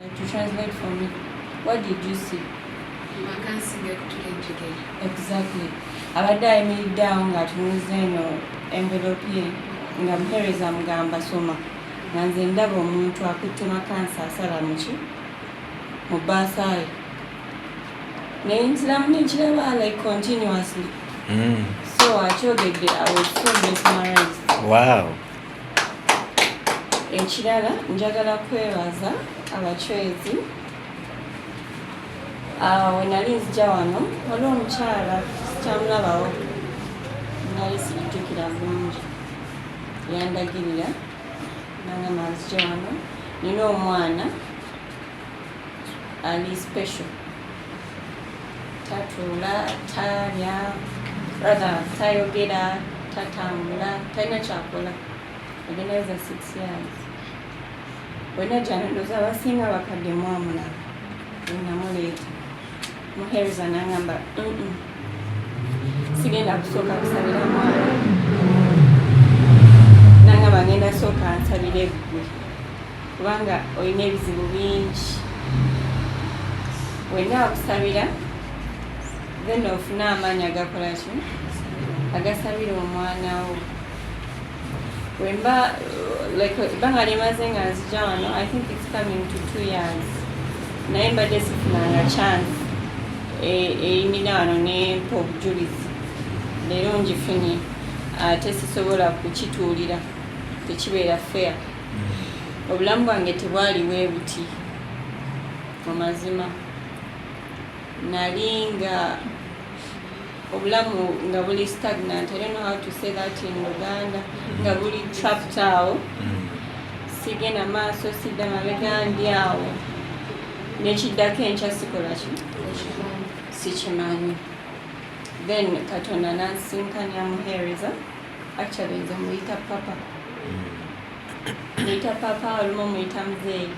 To translate for me, what did you see? Makansiga kutula enjegere. Exactly. Abadde ayimiridde awo ng'atunuza eno envelope ye nga muheereza amugamba soma nga nze ndaba omuntu akutte makansi asala muki mu baasaayi naye nziramu nenkiraba like continuously mm. so akyogedde awesomesmarise wow ekirala njagala kwebaza abacwezi ah, wenali nzija wano waliwo omukyala kyamulabawo nali sikitukira bulungi yandagirira nanga manzija wano nina omwana ali special tatuula talya rather tayogera tatambula talina kyakola agendaza six years wena janondoza abasinga bakadde mwamula enamuleeta muhereza nangamba sigenda kusooka kusabira mwana nangamba ngenda sooka nsabire eggulu kubanga olina ebizibu bingi wenna akusabira then ofuna amaanyi agakola ki agasabira omwana wo wemba like ebbanga lyemaze nga nzija wano i think its coming to two years naye mbadde sifunanga chance eyimira e, wano nempa obujulizi leero ngifunye ate sisobola kukituulira tekibeera fair obulamu bwange tebwali webuti mu mazima nali nga obulamu nga buli stagnant i don't know how to say that in uganda nga buli trapped awo sigenda maaso sidda mabega ndi awo nekiddako enkya sikola ki sikimanyi then katonda nansinkanyamuheereza Actually nze muyita papa. Hmm. Muyita papa olumu muyita mzeeyi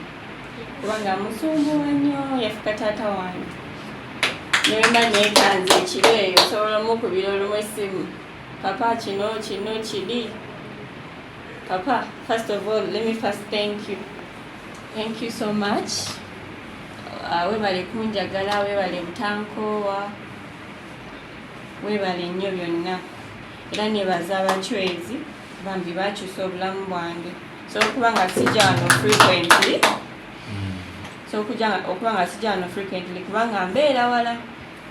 kubanga musumbuwa nnyo yafuka taata wange nemba nekanze ekiro eyo osobola omukubira olumu esimu papa kino kino kiri papa first of all let me first thank you thank you so much uh, webale kunjagala webale butankoowa webale nnyo byonna era nebaza abacwezi bambi bakyusa obulamu bwange so okuba nga sijja wano frequently hmm. so okuba nga sijja wano frequently kubanga mbeera wala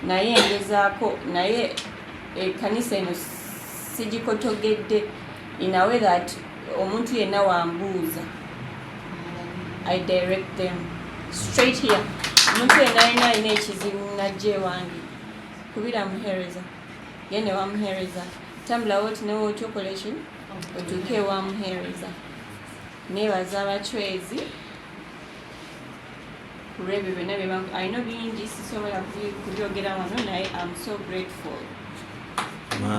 naye ngezaako naye ekanisa eno sigikotogedde in a way that omuntu yenna wambuuza i direct them straight here omuntu yenna yenna alina ekizibu najja ewange kubira muhereza ye ne wamuheereza tambulawo oti newe oti okole ki otuuke ewamuheereza neebaza abacwezi kulwebyo byonna bye alina bingi sisobola kubyogera wano naye am so grateful wow.